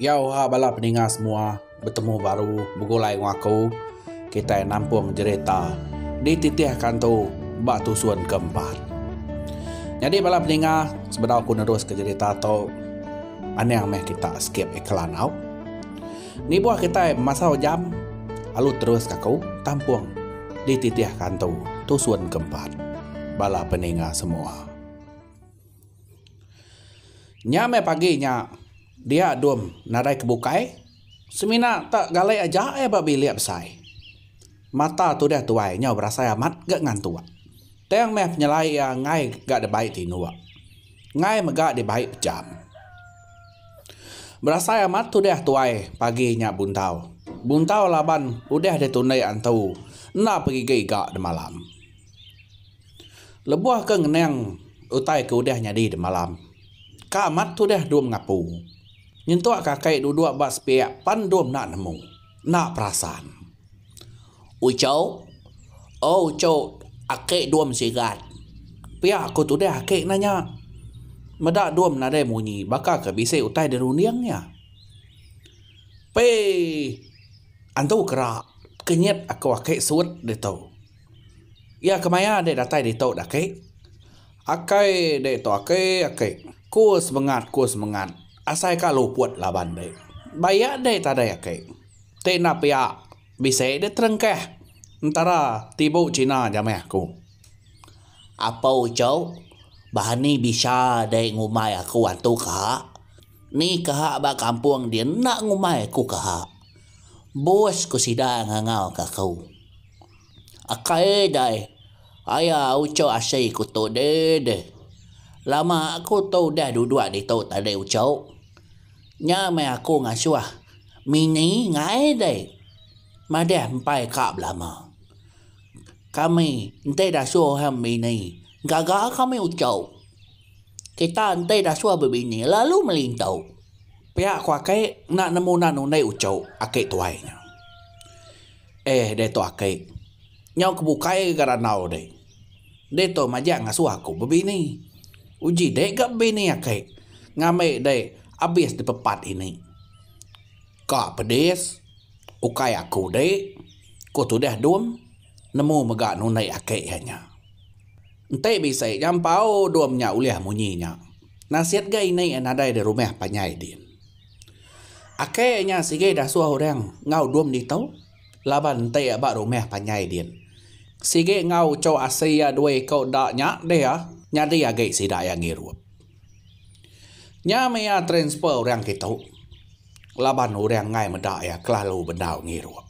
Yo ha bala peninga semua betemu baru begulai enggau aku kitai nampung jerita di titih kantu ba tusun ke empat. Jadi bala peninga sebedau aku nerus ke jerita tu anang meh kita skip iklan au. Nibuh kitai masau jam alu terus ka aku tampung dititih ka antu tusun ke empat bala peninga semua. Nya meh pagi nya dia dum nadai ke bukai semina te galai aja ia ba bilik besai. Mata tudah tuai nyau berasai amat ga ngantuk. Tang meh penyelai ia enggai ga debai tinuk. Ngai mega dibai pejam. Berasai amat tudah tuai pagi nya buntau. Buntau laban udah ditundi antu enda pegigi iga demalam. Lebuh ke ngenang utai ke udah nyadi demalam, ka amat tudah dum ngapu. Nyentuk ka kai duduk ba sepiak pan dum enda nemu. enda perasan. Ucok, Oh ucok, ake dom sigat. Pia ku tudah ake nanya. Meda dom nadai munyi baka ke bisi utai di runding nya. Pee antu kera kenyit aku ake suit ditu. Iya ke maya dek datai ditu dak ake. Akai dek tu ake ake. Ku semengat ku semengat. Asai ka luput laban dei. Baia dei tadai aki. Ti enda pia bisi dei terengkah entara tibu China jamai aku. Apo uchup Bani bisa dei ngumbai aku antu kaha. Ni kaha ba kampung dia enda ngumbai aku kaha. Bos ku sida ngangau ka aku. Akai dai aya uchu asi ku tu deh deh. Lama aku tu udah duduk ditu tadi uchu. Nya meh aku ngasuh Mini ngai deh madah empai ka belama. Kami enti dasuh orang bini gaga kami uchu. Kita enti dasuh bebini lalu meli entu. Pia ku aki enda nemu udah undi uchu aki tuai nya. Eh deh tu aki. Nyau ke bukai ga randau deh. Deh tu majak ngasuh aku bebini. Uji deh ga bebini aki. Ngambi deh abis dipepat ini. Ka pedis. Ukai aku deh. Ku tudah Dum nemu mega nunik aki iya nya. Enti bisi nya empau Dum nya ulih munyi nya. Nasit ga ini nadai di rumah panjai din. Ake nya sigi dasuh orang enggau dum ditu laban enti ba rumah panjai din. Sigi enggau uchu asi iya dua iku da nya deh iya nyadi agi sida iya ngirup. Nya meh iya transfer orang kitu laban orang enggai meda iya kelalu bendau ngirup.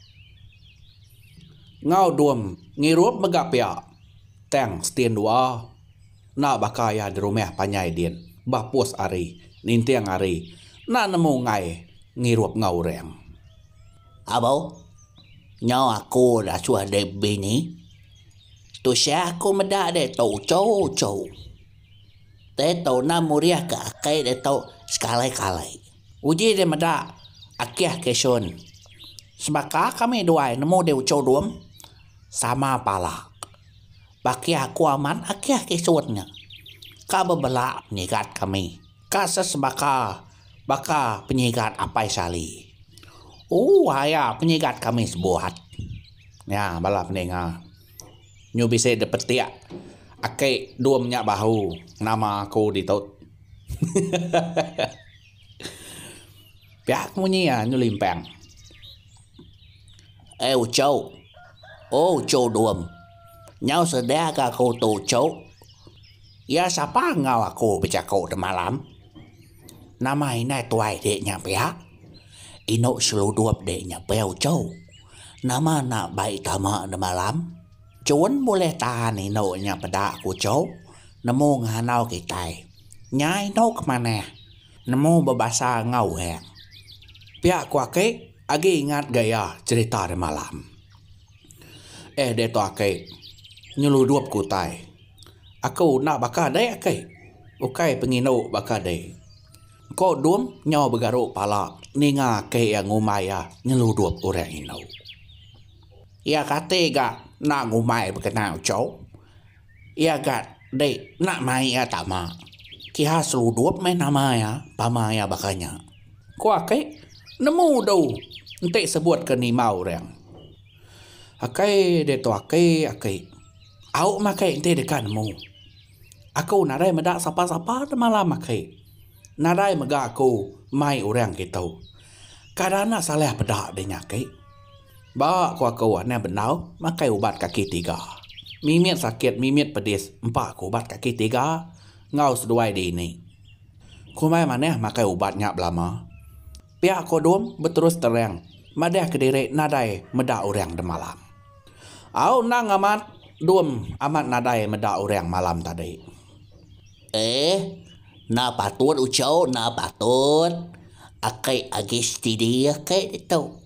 Enggau dum ngirup mega pia tang setin dua. Enda baka iya dirumah panjai din, bapus ari, ninting ari, enda nemu enggai ngirup enggau orang. Abau, nyau aku dah suah deh bini, tusah aku meda deh tu uchu-uchu. Te tuna murih ke aki deh tu sekali-kali. Uji deh meda akih ke sun. Sebaka kami duai nemu deh uchu dum, sama pala. Baki aku amat agih isun nya ka bebela penyigat kami ka sesebaka baka penyigat Apai Sali. Ooh aya penyigat kami sebuat. Nya bala peninga nyu bisi dipetik aki dum nya bahu nama aku ditu. Hehehe. Pia aku munyi iya nyu limpang. Eh uchu. Oh uchu Duem. Nyau sedia ga aku tu uchu. Iya sapa enggau aku bejaku temalam? Nama indai tuai dik nya pia? Inu seludup dik nya pia uchu. Nama enda baik tama temalam? Chuen bulih tahan inu nya peda ku uchu. Nemu nganau kitai. Nya inu ke manah. Nemu bebasa enggau orang. Pia ku aki agi ingat ga iya cerita deh malam. Eh diatu aki nyeludup ku utai. Aku enda baka deh aki. Ukai pengindu baka deh. Ko Dung nyau begaru pala ninga aki iya ngumbai iya nyeludup orang indu. Iya kati ga enda ngumbai bekena uchu. Iya ga dei enda mai iya tama. Kiha seludup meh nama iya tama iya baka nya. Ku ake nemu du enti sebut ke nimba orang. Ake diatu ake ake. Au meh ake enti deka nemu. Aku nadai meda sapa-sapa da malam ake. Nadai mega aku mai orang kitu. Kada enda salih peda dinya ake. Ba ku aku nya bendau makai ubat kaki tiga. Mimit sakit mimit pedis empa ku ubat kaki tiga enggau seduai diini. Kumbai manah makai ubat nya belama. Pia ku Dum beterus terang madah ke diri nadai meda orang demalam. Au endang amat Dum amat nadai meda orang malam tadi. Eh, enda patut ucau enda patut. Aki agi setidi aki ditu.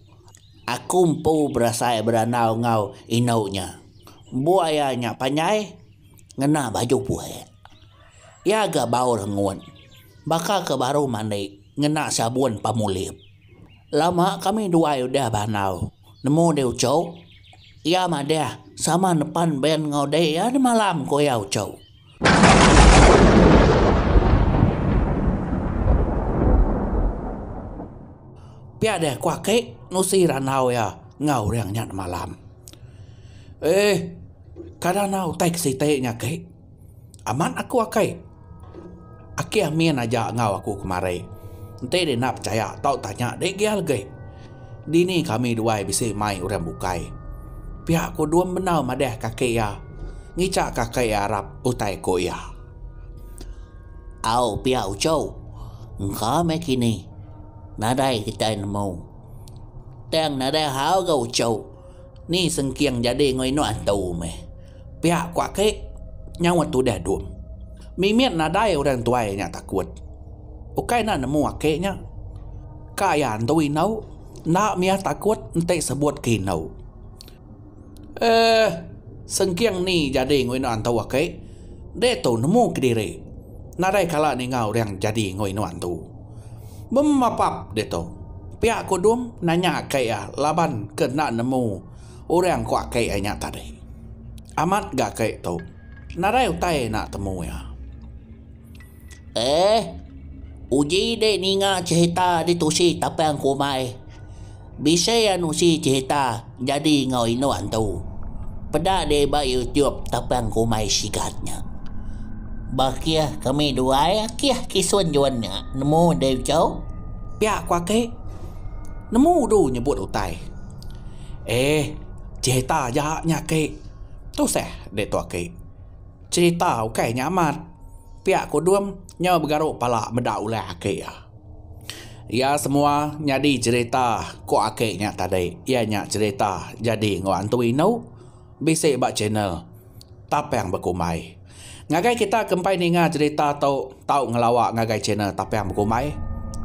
Aku empu berasai berandau enggau indu nya. Buai iya nya panjai ngena baju puek. Iya ga bau rengut. Baka ke baru mandi ngena sabun pemulip. Lama kami duai udah berandau. Nemu deh ucau? Iya madah sama nepan ben enggau dek iya di malam, ku iya ucau. Pia deh ku aki nusi randau iya enggau orang nya nemalam. Eh kada enggau utai ke siti nya aki amat aku aki. Aki Amin aja enggau aku kemari. Enti dia enda pechaya tau tanya dia gia legi. Dini kami duai bisi mai orang bukai. Pia ku Dum Benau madah kaki iya ngicha ka kai iya arap utai ku iya. Au pia Uchow. Engka meh kini. Nadai kitai nemu. Tang nadai hal ga Uchow. Ni sengking jadi enggau indu antu meh. Pia ku aki, nyaut tudah Dum. Mimit nadai orang tuai nya takut. Ukai enda nemu aki nya. Ka iya antu indu, enda mia takut enti sebut ke indu. Eh, sengking ni jadi enggau indu antu aki, diatu nemu kediri. Nadai kala ninga orang jadi enggau indu antu. Bemapap ditu, pia kudum nanya aka iya laban ke enda nemu orang ko aka iya nya tadi. Amat ga aka tu nadai utai enda temu iya. Ehh uji dek ninga cerita ditusi tapang ke umai. Bisi anu si cerita jadi enggau indu antu. Peda deh ba YouTube tapang kumai sigat nya. Ba kih kami duai kih kisun juan nya nemu deh chau. Pia ku aki. Nemu du nyebut utai. Eh cerita aja nya aki. Tusah deh tu aki. Cerita ukai nya amat. Pia ku Dum nyau begaru pala meda ulah aki iya. Iya semua nyadi jerita ku aki nya tadi iya nya jerita jadi enggau antu inu bisi ba channel tapang bekumbai ngagai kita ke empai ninga jerita tu tau ngelawa ngagai channel tapang bekumbai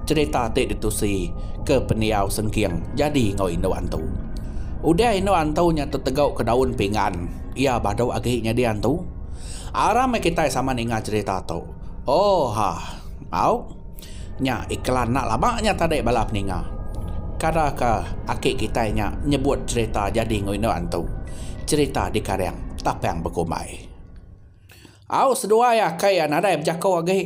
jerita ti ditusi ke pendiau sengking jadi enggau indu antu udah indu antu nya tetegau ke daun pinggan iya badu agi nyadi antu aram meh kitai sama ninga jerita tu oohh au. Nya iklan enda laba nya tadi bala peninga. Kada ka aki kitai nya nyebut cherita jadi enggau indu antu. Cherita dikaring tapang bekumbai. Au seduai aki iya nadai bejaku agi.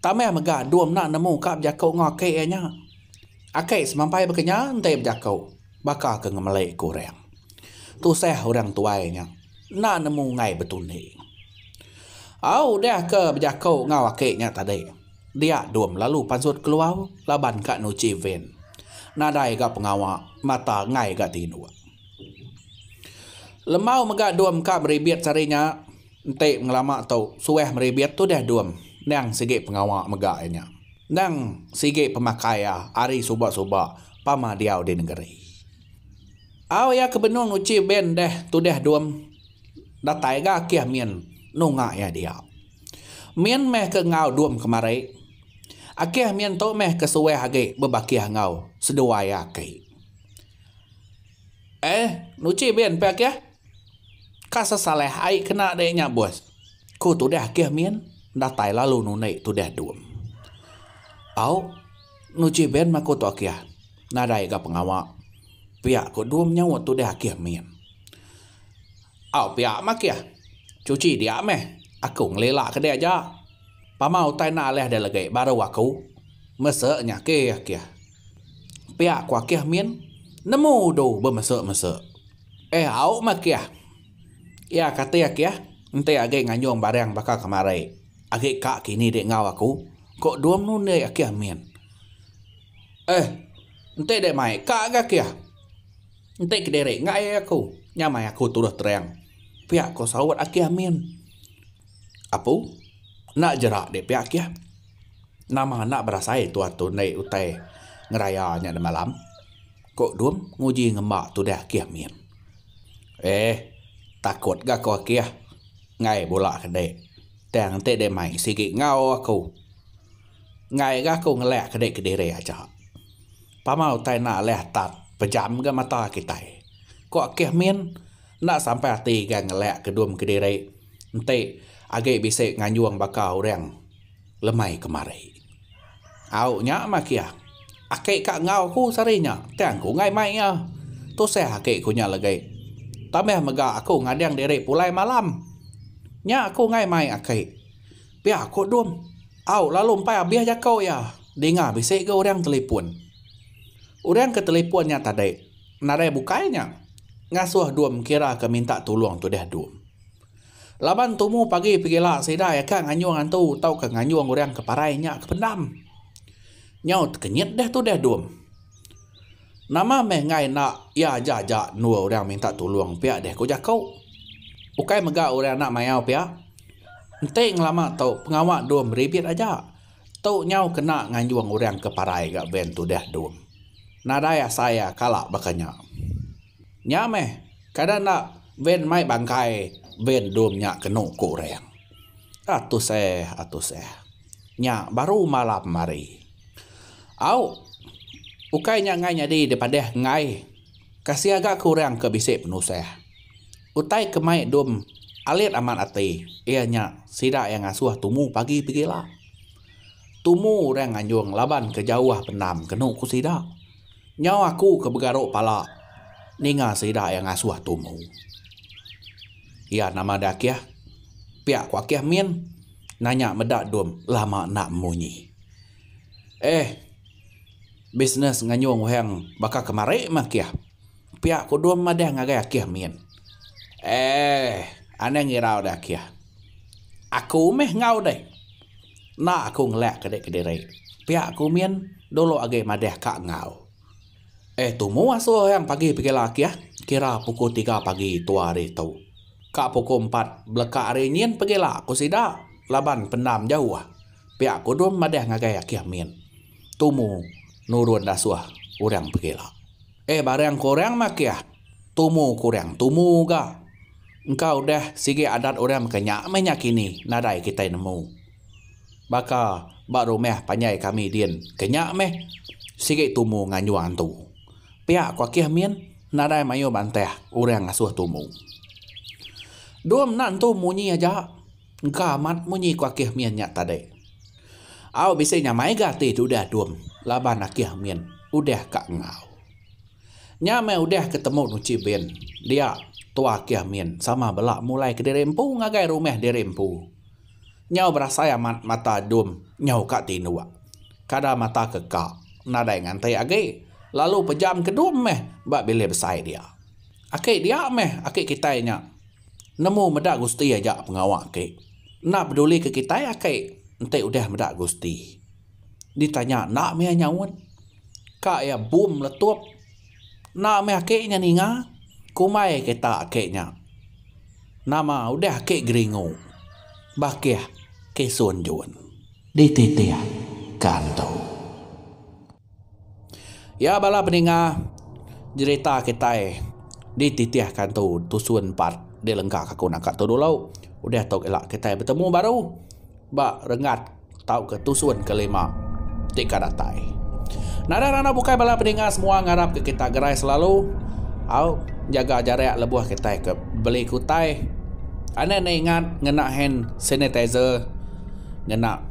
Tambah mega dua mena nemu ka bejaku enggau aki iya nya. Aki semampai bekenyau enti bejaku baka ke ngemeli ke orang. Tusah orang tuai nya. Enda nemu enggai betundi. Au udah ke bejako enggau aki nya tadi. Dia dom lalu pansut keluar laban ka nuchi van. Nadai ga pengawa mata enggai ga tinduk. Lembau mega dom ka meribit sehari nya. Enti pengelama tu suah meribit tudah dom endang sigi pengawa mega iya nya. Endang sigi pemakai iya hari suba-suba pama diau di nengeri. Au iya ke benung uchi band deh tudah dum datai ga kih min nunga iya dia. Min meh ke enggau dum kemari. Akih min tu meh ke suah agi bebakih enggau seduai iya aki. Eh nuchi band pia kih. Ka sesalah ai kena deh nya bos. Ku tudah kih min datai lalu nunik tudah dum. Au nuchi band mah ku tu kih nadai ga pengawa. Pia ko dua menyaut tu deh akih min. Au pia meh akih. Cuci dia meh. Aku ngelila ke dia aja. Pama utai enda alih dia legi baru aku. Mesa nya akih akih. Pia ko akih min nemu udu bemesa mesa. Eh au meh akih. Ia kati akih enti agi nganjung barang baka kemari. Agi ka kini di enggau aku. Ko dua menundai akih min. Eh, enti deh mai ka ga kia. Enti kediri enggau ayai aku, nya mai aku tuduh terang. Pia ko saut Aki Amin. Apu, enda jerak deh pia kia. Nama enda berasai tuan tu naik utai ngeraya nya nemalam? ko Dum nguji ngemba tudah Aki Amin. Eh, takut ga ko Aki ah. Enggai bula ke dek. Tang enti deh mai sigi enggau aku. Enggai ga aku ngelak ke dei kediri aja. Pama utai enda alih tak pejam ga mata kitai. Ko Akih Min enda sampai ati ga ngelak ke dum kediri enti agi bisi nganjung baka orang lemai kemari. Au nya mah kia. Aki ka enggau aku sehari nya tang aku enggai mai iya. Tusah aki ku nya legi. Tambah mega aku ngadang diri pulai malam. Nya aku enggai mai aki. Pia ko Dum. Au lalu empai abih jako iya. Dinga bisi ga orang telipon. Orang ke telipon nya tadi nadai bukai nya ngasoh Dum kira ke minta tulong tudah Dum. Laban tumu pagi pegila sida iya ka nganyong antu tauka nganyong orang ke parai nya ke pendam. Nyau tekenyit deh tudah Dum. Nama meh enggai enda iya aja aja endur orang minta tulong pia deh ko jako. Ukai mega orang enda mayau pia Enti ngelama tu pengawa dom ribit aja. Tu nyau kena nganjung orang ke parai ga van tudah dom. Nadai asai iya kala baka nya. Nya meh kada enda van mai bangkai van dom nya kenu ku orang. Atus eh atus eh. Nya baru malam hari. Au ukai nya enggai nyadi dipadah enggai. Kasih aga ke orang ke bisi penusah. Utai ke mai Dum alit amat ati iya nya sida iya ngasuh tumu pagi begila. Tumu orang nganjung laban ke jauh pendam kenu ku sida. Nyau aku ke begaru pala ninga sida iya ngasuh tumu. Iya nama deh Akih? Pia ku Akih Min nanya meda Dum lama enda munyi. Eh. Bisnes nganyung uhang baka kemari meh kih. Pia kudum madah ngagai akih min. Eeh anang irau deh akih. Aku meh enggau deh. Enda aku ngelak ke dek kediri. Pia aku min dulu agi madah ka enggau. Eh tumu asu uhang pagi pegila akih kira pukul tiga pagi tua hari tu. Ka pukul empat beleka hari nyin pegila ku sida laban pendam jauh. Pia kudum madah ngagai akih min. Tumu nurun dasuh orang pegila. Eh barang ke orang makih tumu ke orang tumu ga. Engka udah sigi adat orang mega nya meh nya kini nadai kitai nemu. Baka ba rumah panjai kami din ke nya meh sigi tumu nganjung antu. Pia ku akih min nadai mayuh bantah orang ngasuh tumu. Dum enda entu munyi aja engka amat munyi ku akih min nya tadi. Au bisi nya mai ga ati ti udah dum laban akih min udah ka enggau. Nya meh udah ke temu nuchi bin dia tua akih min sama bela mulai ke diri empu ngagai rumah diri empu. Nyau berasai amat mata dum nyau ka tinduk. Kada mata ke ka nadai nganti agi lalu pejam ke dum meh ba bilik besai dia. Aki dia meh aki kitai nya Nemu meda gusti aja pengawa ake. Enda peduli ke kitai ake enti udah meda gusti. Ditanya enda mih nyaut. Ka iya bum meletup. Enda mih ake nya ninga. Kumbai kita ake nya. Nama udah ake geringu. Bakih Kisun Jun. Dititih ka antu. Iya bala peninga jerita kitai dititihka tu tusun part dilengka aku naka tu dulu udah tu ila kitai betemu baru ba renggat tauka tusun kelima ti ka datai. Nadai randau bukai bala peninga semua ngarap ka kitai gerai selalu au nyaga jarak lebuh kitai ke beli ke utai. Anang ne ingat ngena hand sanitizer ngena.